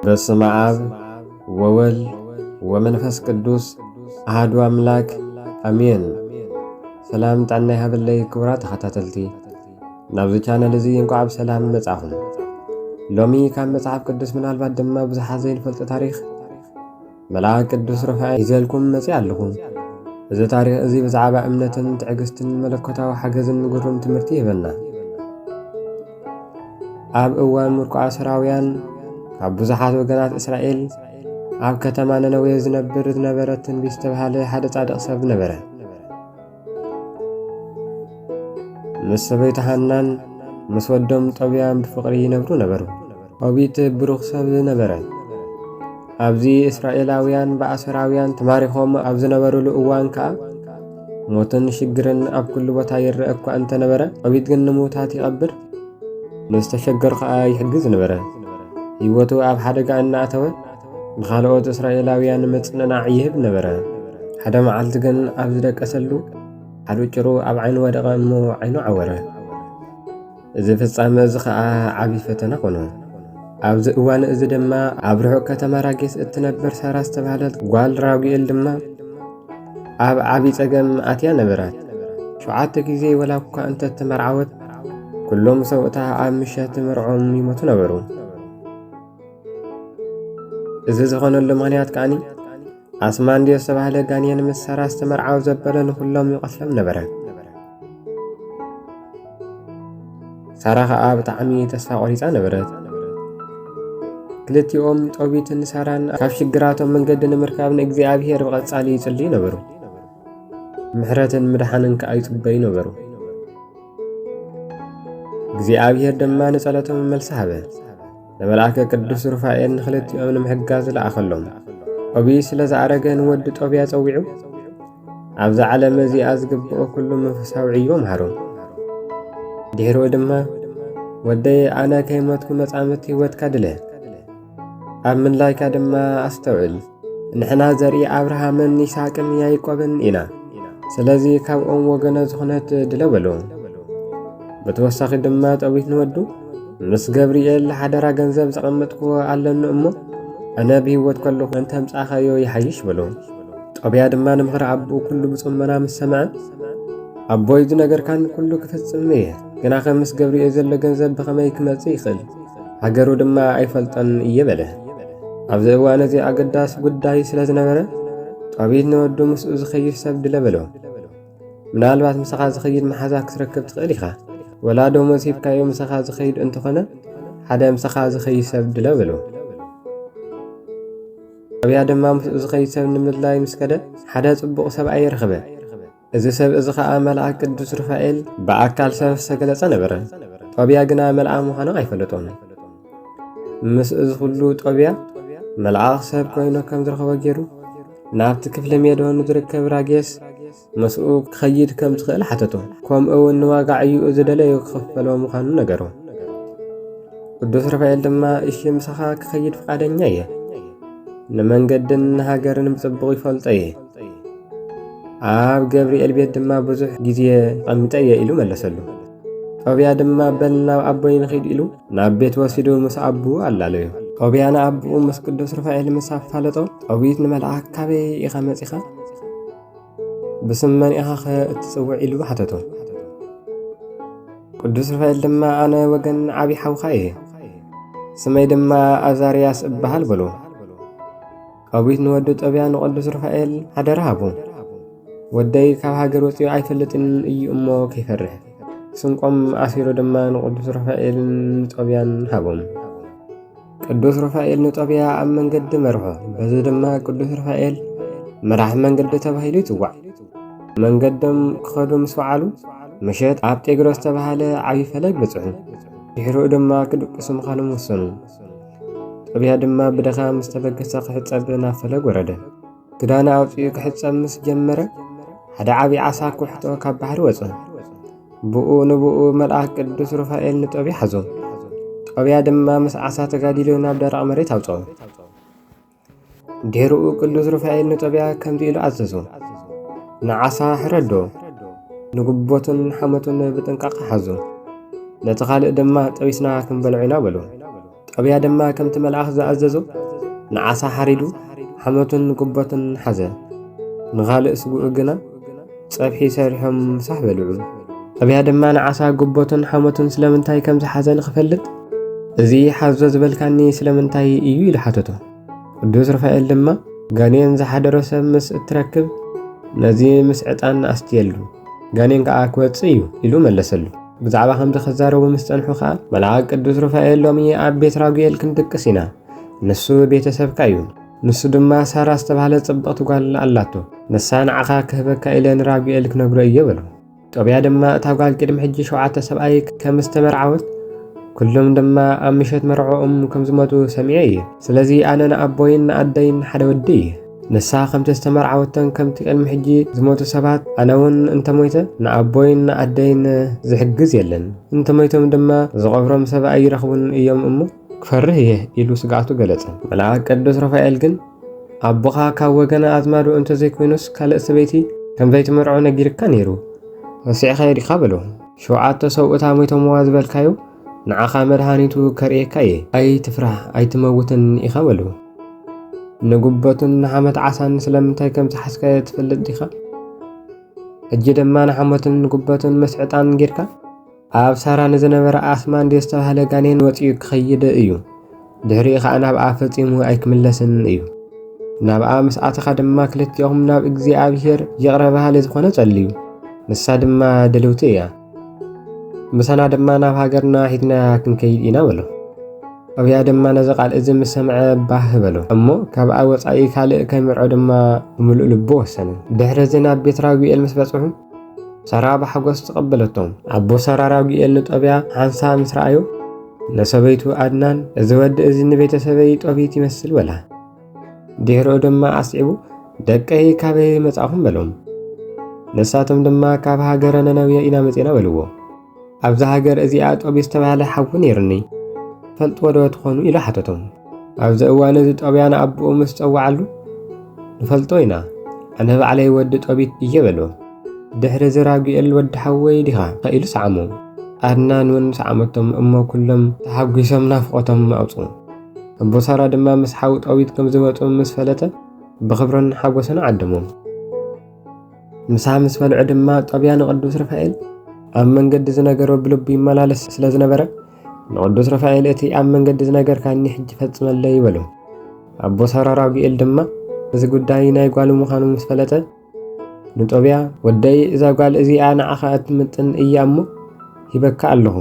በስመ አብ ወወልድ ወመንፈስ ቅዱስ አህዱ አምላክ አሜን። ሰላም ጣና ይሃበለይ ክቡራት ተኸታተልቲ ናብዚ ቻነል እዚ እንቋዕ ብሰላም መጻኹም። ሎሚ ካብ መጽሓፍ ቅዱስ ምናልባት ድማ ብዙሓት ዘይንፈልጦ ታሪኽ መልኣክ ቅዱስ ሩፋኤል ይዘልኩም መጺ ኣለኹ። እዚ ታሪኽ እዚ ብዛዕባ እምነትን ትዕግስትን መለኮታዊ ሓገዝን ግሩም ትምህርቲ ይህበና። ኣብ እዋን ምርኮ ኣስራውያን ካብ ብዙሓት ወገናት እስራኤል ኣብ ከተማ ነነዌ ዝነብር ዝነበረ ትንቢት ዝተብሃለ ሓደ ጻድቕ ሰብ ነበረ። ምስ ሰበይቱ ሃናን ምስ ወዶም ጦብያን ብፍቕሪ ይነብሩ ነበሩ። ኦቢት ብሩኽ ሰብ ነበረ። ኣብዚ እስራኤላውያን ብኣሶራውያን ተማሪኾም ኣብ ዝነበሩሉ እዋን ከኣ ሞትን ሽግርን ኣብ ኩሉ ቦታ ይረአ እኳ እንተነበረ ኦቢት ግን ንምውታት ይቐብር፣ ንዝተሸገሩ ከኣ ይሕግዝ ነበረ። ህይወቱ ኣብ ሓደጋ እናእተወ ንኻልኦት እስራኤላውያን ምጽንናዕ ይህብ ነበረ። ሓደ መዓልቲ ግን ኣብ ዝደቀሰሉ ሓሉጭሩ ኣብ ዓይኑ ወደቐ እሞ ዓይኑ ዓወረ። እዚ ፍጻመ እዚ ኸኣ ዓቢ ፈተና ኾኑ። ኣብዚ እዋን እዚ ድማ ኣብ ርሑቕ ከተማ ራጌስ እትነብር ሳራ ዝተባህለት ጓል ራጉኤል ድማ ኣብ ዓቢ ጸገም ኣትያ ነበራት። ሸውዓተ ግዜ ወላ እኳ እንተ ተመርዓወት ኩሎም ሰውእታ ኣብ ምሸት ምርዖም ይሞቱ ነበሩ። እዚ ዝኾነሉ ምኽንያት ከዓኒ ኣስማንድዮ ዝተባህለ ጋንየን ምስ ሳራ ዝተመርዓው ዘበለ ንኹሎም ይቐትሎም ነበረ ሳራ ከዓ ብጣዕሚ ተስፋ ቆሪፃ ነበረት ክልቲኦም ጦቢትን ሳራን ካብ ሽግራቶም መንገዲ ንምርካብ ንእግዚኣብሔር ብቐጻሊ ይጽልዩ ነበሩ ምሕረትን ምድሓንን ከዓ ይጽበዩ ነበሩ እግዚኣብሔር ድማ ንጸሎቶም መልሲ ሃበ ንመልኣከ ቅዱስ ሩፋኤል ንኽልቲኦም ንምሕጋዝ ዝለኣኸሎም ኦቢ ስለ ዝኣረገ ንወዲ ጦብያ ጸዊዑ ኣብዛ ዓለም እዚኣ ዝግብኦ ኩሉ መንፈሳዊ ዕዮ ምሃሩ ድሕሩ ድማ ወደይ ኣነ ከይሞትኩ መጻምት ህይወትካ ድለ ኣብ ምንላይካ ድማ ኣስተውዕል ንሕና ዘርኢ ኣብርሃምን ይስሐቅን ያዕቆብን ኢና ስለዚ ካብኦም ወገነ ዝኾነት ድለ በሉ ብተወሳኺ ድማ ጠዊት ንወዱ ምስ ገብርኤል ሓደራ ገንዘብ ዘቐመጥክዎ ኣለኒ እሞ እነ ብህይወት ከለኹ እንተምጻኻዮ ይሓይሽ በሉ ጦብያ ድማ ንምኽሪ ኣቦ ኩሉ ብጽሞና ምስ ሰምዐ ኣቦይ ዝነገርካን ኩሉ ክፍጽም እየ ግናኸ ምስ ገብርኤል ዘሎ ገንዘብ ብኸመይ ክመጽእ ይኽእል ሃገሩ ድማ ኣይፈልጠን እየ በለ ኣብዚ እዋን እዚ ኣገዳሲ ጉዳይ ስለ ዝነበረ ጣቢት ንወዱ ምስኡ ዝኸይድ ሰብ ድለ በሎ ምናልባት ምሳኻ ዝኸይድ መሓዛ ክትረክብ ትኽእል ኢኻ ወላ ደሞዝ ሂብካዮ ምሳኻ ዝኸይድ እንተኾነ ሓደ ምሳኻ ዝኸይድ ሰብ ድለ በሎ ኣብያ ድማ ምስኡ ዝኸይድ ሰብ ንምድላይ ምስ ከደ ሓደ ጽቡቕ ሰብኣይ ረኸበ እዚ ሰብ እዚ ኸኣ መልኣክ ቅዱስ ሩፋኤል ብኣካል ሰብ ዝተገለጸ ነበረ። ጦብያ ግና መልኣ ምዃኑ ኣይፈለጦን። ምስ እዚ ዅሉ ጦብያ መልኣኽ ሰብ ኮይኑ ከም ዝረኸቦ ገይሩ ናብቲ ክፍሊ ሜዶን ዝርከብ ራጌስ ምስኡ ክኸይድ ከም ዝኽእል ሓተቶ ከምኡ እውን ንዋጋዕዩ ዝደለዩ ክኽፈሎ ምዃኑ ነገሮ ቅዱስ ርፋኤል ድማ እሺ ምሳኻ ክኸይድ ፍቓደኛ እየ ንመንገድን ንሃገርን ብጽቡቕ ይፈልጦ እየ ኣብ ገብርኤል ቤት ድማ ብዙሕ ግዜ ቐሚጠ እየ ኢሉ መለሰሉ። ጦብያ ድማ በል ናብ ኣቦይ ንኺድ ኢሉ ናብ ቤት ወሲዱ ምስ ኣቡ ኣላለዩ። ጦብያ ንኣቦኡ ምስ ቅዱስ ሩፋኤል ምስ ኣፋለጦ ጦቢት ንመልኣክ ካበይ ኢኻ መጺኻ ብስም መን ኢኻ ኸ እትጽውዕ ኢሉ ሓተቶ። ቅዱስ ሩፋኤል ድማ ኣነ ወገን ዓብዪ ሓውኻ እየ ስመይ ድማ ኣዛርያስ እበሃል በሎ። ቃዊት ንወዱ ጠብያ ንቐዱስ ሩፋኤል ሓደራ ሃቡ ወደይ ካብ ሃገር ወፂኡ ኣይፈልጥን እዩ እሞ ከይፈርሕ ስንቆም ኣሲሩ ድማ ንቅዱስ ሩፋኤልን ንጦብያን ሃቦም ቅዱስ ሩፋኤል ንጦብያ ኣብ መንገዲ መርሖ በዚ ድማ ቅዱስ ሩፋኤል መራሒ መንገዲ ተባሂሉ ይፅዋዕ መንገዶም ክኸዱ ምስ በዓሉ ምሸት ኣብ ጤግሮስ ዝተባሃለ ዓብዪ ፈለግ በፅሑ ድሕሪኡ ድማ ክድቅሱ ምዃኖም ወሰኑ ጥብያ ድማ ብድኻ ምስ ተበገሰ ክሕጸብ ናብ ፈለግ ወረደ። ክዳነ ኣውጺኡ ክሕጸብ ምስ ጀመረ ሓደ ዓብዪ ዓሳ ኩሕቶ ካብ ባሕሪ ወጸ። ብኡ ንብኡ መልኣክ ቅዱስ ሩፋኤል ንጦብያ ሓዞ። ጦብያ ድማ ምስ ዓሳ ተጋዲሉ ናብ ደረቕ መሬት ኣውጽኦ። ዴርኡ ቅዱስ ሩፋኤል ንጦብያ ከምዚ ኢሉ ኣዘዞ፣ ንዓሳ ሕረዶ፣ ንጉቦትን ሓመቱን ብጥንቃቐ ሓዞ፣ ነቲ ካልእ ድማ ጠቢስና ክንበልዖ ኢና በሎ። ጦብያ ድማ ከምቲ መልኣኽ ዝኣዘዞ ንዓሳ ሓሪዱ ሓመቱን ጉቦትን ሓዘ፣ ንኻልእ ስግኡ ግና ጸብሒ ሰሪሖም ምሳሕ በልዑ። ኣብያ ድማ ንዓሳ ጉቦቱን ሓሞቱን ስለምንታይ ከም ዝሓዘ ንኽፈልጥ እዚ ሓዞ ዝበልካኒ ስለምንታይ እዩ ኢሉ ሓተቶ ቅዱስ ሩፋኤል ድማ ጋኔን ዝሓደሮ ሰብ ምስ እትረክብ ነዚ ምስ ዕጣን ኣስትየሉ ጋኔን ከዓ ክወፅእ እዩ ኢሉ መለሰሉ ብዛዕባ ከምዚ ክዛረቡ ምስ ፀንሑ ከዓ መልኣክ ቅዱስ ሩፋኤል ሎሚ ኣብ ቤት ራጉኤል ክንድቅስ ኢና ንሱ ቤተሰብካ እዩ ንሱ ድማ ሳራ ዝተባህለ ጽብቕቲ ጓል ኣላቶ፣ ንሳ ንዓኻ ክህበካ ኢለ ንራጉኤል ክነግሮ እየ በሎ። ጦብያ ድማ እታ ጓል ቅድሚ ሕጂ ሸውዓተ ሰብኣይ ከም ዝተመርዓወት ኩሎም ድማ ኣብ ምሸት መርዕኦም ከም ዝመቱ ሰሚዐ እየ። ስለዚ ኣነ ንኣቦይን ንኣደይን ሓደ ወዲ እየ። ንሳ ከምቲ ዝተመርዓወተን ከምቲ ቅድሚ ሕጂ ዝሞቱ ሰባት ኣነ እውን እንተሞይተ ንኣቦይን ንኣደይን ዝሕግዝ የለን፣ እንተሞይቶም ድማ ዝቐብሮም ሰብ ኣይረኽቡን እዮም እሞ ክፈርህ እየ ኢሉ ስግኣቱ ገለጸ። መልኣክ ቅዱስ ሩፋኤል ግን ኣቦኻ ካብ ወገነ ኣዝማዱ እንተ ዘይኮይኑስ ካልእ ሰበይቲ ከም ዘይትምርዖ ነጊርካ ነይሩ ረሲዕካዮ ዲኻ በሎ። ሸውዓተ ሰብኡታ ሞይቶምዋ ዝበልካዮ ንዓኻ መድሃኒቱ ከርእየካ እየ ኣይትፍራህ ኣይትመውትን ኢኻ በሎ። ንጉበቱን ንሓመት ዓሳን ስለምንታይ ከም ዝሓዝካዮ ትፈልጥ ዲኻ? ሕጂ ድማ ንሓመቱን ንጉበቱን ምስ ዕጣን ጌርካ ኣብ ሳራ ንዝነበረ ኣስማንዲ ዝተባህለ ጋኔን ወጺኡ ክኸይድ እዩ ድሕሪኡ ኸኣ ናብኣ ፈጺሙ ኣይክምለስን እዩ ናብኣ ምስ ኣተኻ ድማ ክልቲኦም ናብ እግዚኣብሔር ይቕረ በሃሊ ዝኾነ ጸልዩ ንሳ ድማ ድልውቲ እያ ምሳና ድማ ናብ ሃገርና ሒትና ክንከይድ ኢና በሎ ኣብያ ድማ ነዚ ቃል እዚ ምስ ሰምዐ ባህ በሎ እሞ ካብኣ ወጻኢ ካልእ ከምርዖ ድማ ብምሉእ ልቡ ወሰነ ድሕሪ እዚ ናብ ቤት ራጉኤል ምስ በጽሑ ሰራ ብሓጎስ ተቐበለቶ። ኣቦ ሰራ ራጉኤል ንጦብያ ሓንሳብ ምስ ረኣዮ ንሰበይቱ ኣድናን እዚ ወዲ እዚ ንቤተሰበይ ጦቢት ይመስል በላ። ድሕሪኡ ድማ ኣስዒቡ ደቀይ ካበይ መጻእኹም በሎም። ንሳቶም ድማ ካብ ሃገረ ነነውየ ኢና መጺና በልዎ። ኣብዛ ሃገር እዚኣ ጦብያ ዝተባህለ ሓዊ ነይሩኒ ፈልጥዎ ዶ ትኾኑ ኢሉ ሓተቶም ኣብዚ እዋን እዚ ጦብያ ንኣቦኡ ምስ ጸዋዓሉ ንፈልጦ ኢና ኣነ ባዕለይ ወዲ ጦቢት እየ በሎ ድሕሪ እዚ ራጉኤል ወዲ ሓወይ ዲኻ ኢሉ ሰዓሞ ኣድናን እውን ሰዓመቶም እሞ ኩሎም ተሓጒሶም ናፍቖቶም ኣውፁ ኣቦ ሳራ ድማ ምስ ሓዊ ጦቢት ከም ዝመፁ ምስ ፈለጠ ብኽብርን ሓጎስን ዓደሞም ምሳ ምስ በልዑ ድማ ጦብያ ንቅዱስ ርፋኤል ኣብ መንገዲ ዝነገሮ ብልቡ ይመላለስ ስለ ዝነበረ ንቅዱስ ርፋኤል እቲ ኣብ መንገዲ ዝነገርካኒ ሕጂ ፈጽመለ ይበሉ። ኣቦ ሰራ ራጉኤል ድማ እዚ ጉዳይ ናይ ጓሉ ምዃኑ ምስ ፈለጠ ንጦብያ ወደይ እዛ ጓል እዚኣ ንዓኻ እትምጥን እያ እሞ ሂበካ ኣለኹ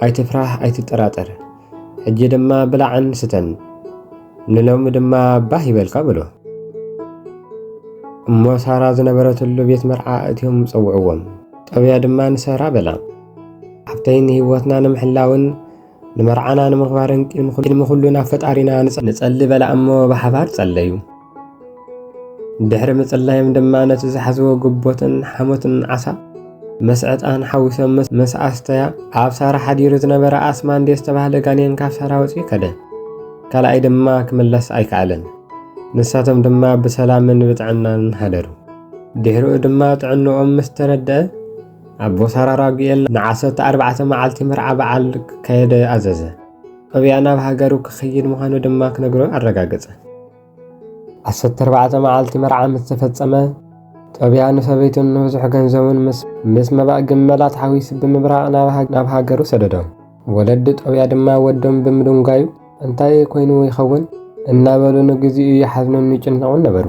ኣይትፍራህ ኣይትጠራጠር ሕጂ ድማ ብላዕን ስተን ንሎሚ ድማ ባህ ይበልካ በሎ እሞ ሳራ ዝነበረትሉ ቤት መርዓ እትዮም ጸውዕዎም ጠብያ ድማ ንሰራ በላ ሓብተይ ንህይወትና ንምሕላውን ንመርዓና ንምኽባርን ቅድሚ ኩሉ ናብ ፈጣሪና ንጸሊ በላ እሞ ብሓባር ጸለዩ ድሕሪ ምጽላዮም ድማ ነቲ ዝሓዝዎ ግቦትን ሓሞትን ዓሳ ምስ ዕጣን ሓዊሶም ምስ ኣስተያ ኣብ ሳራ ሓዲሩ ዝነበረ ኣስማንዴ ዝተባህለ ጋኔን ካብ ሳራ ወፂኡ ከደ። ካልኣይ ድማ ክምለስ ኣይከኣለን። ንሳቶም ድማ ብሰላምን ብጥዕናን ሃደሩ። ድሕሪኡ ድማ ጥዕንኦም ምስ ተረድአ ኣቦ ሳራ ራጉኤል ንዓሰርተ ኣርባዕተ መዓልቲ መርዓ በዓል ክካየደ ኣዘዘ። ኣብያ ናብ ሃገሩ ክኸይድ ምዃኑ ድማ ክነግሮ ኣረጋገጸ። ዓሰርተ ኣርባዕተ መዓልቲ መርዓ ምስ ተፈጸመ ጦብያ ንሰበይቱን ንብዙሕ ገንዘቡን ምስ መባእ ግመላት ሓዊሱ ብምብራቕ ናብ ሃገሩ ሰደዶም። ወለዲ ጦብያ ድማ ወዶም ብምድንጓዩ እንታይ ኮይኑ ይኸውን እናበሉ ንግዚኡ ይሓዝኑን ይጭነቑን ነበሩ።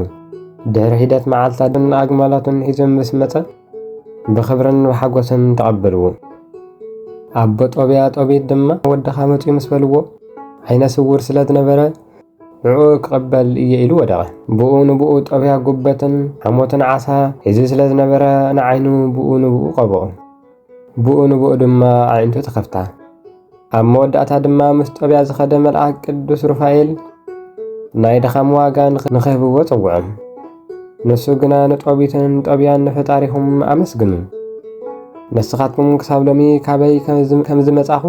ድሕሪ ሒደት መዓልታትን ኣግማላቱን ሒዞ ምስ መጸ ብኽብርን ብሓጎስን ተቐበልዎ። ኣቦ ጦብያ ጦቢት ድማ ወድኻ መጺኡ ምስ በልዎ ዓይነ ስውር ስለ ዝነበረ ንዕኡ ክቕበል እየ ኢሉ ወደቐ። ብኡ ንብኡ ጦብያ ጉበትን ሓሞትን ዓሳ ሒዙ ስለ ዝነበረ ንዓይኑ ብኡ ንብኡ ቀብኦ። ብኡ ንብኡ ድማ ኣዒንቱ ተኸፍታ። ኣብ መወዳእታ ድማ ምስ ጦብያ ዝኸደ መልኣክ ቅዱስ ሩፋኤል ናይ ድኻም ዋጋ ንኽህብዎ ጸውዖም። ንሱ ግና ንጦቢትን ጦብያን ንፈጣሪኹም ኣመስግኑ፣ ንስኻትኩም ክሳብ ሎሚ ካበይ ከም ዝመጻኹ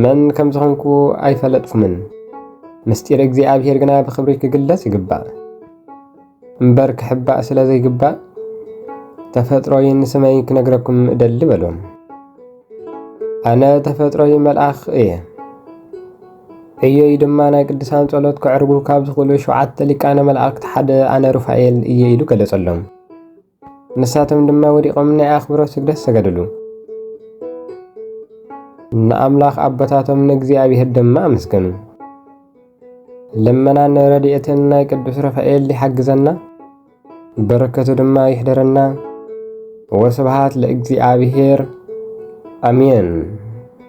መን ከም ዝኾንኩ ኣይፈለጥኩምን፣ ምስጢር እግዚኣብሔር ግና ብኽብሪ ክግለጽ ይግባእ እምበር ክሕባእ ስለ ዘይግባእ ተፈጥሮይን ስመይ ክነግረኩም እደሊ በሎም። ኣነ ተፈጥሮይ መልኣኽ እየ እየይ ድማ ናይ ቅዱሳን ጸሎት ክዕርጉ ካብ ዝኽእሉ ሸውዓተ ሊቃነ መላእክት ሓደ ኣነ ሩፋኤል እየ ኢሉ ገለጸሎም። ንሳቶም ድማ ወዲቖም ናይ ኣኽብሮት ስግደት ሰገድሉ። ንኣምላኽ ኣቦታቶም ንእግዚኣብሔር ድማ ኣመስገኑ። ልመናን ረድኤትን ናይ ቅዱስ ሩፋኤል ይሓግዘና፣ በረከቱ ድማ ይሕደረና። ወስብሃት ለእግዚኣብሔር ኣሜን።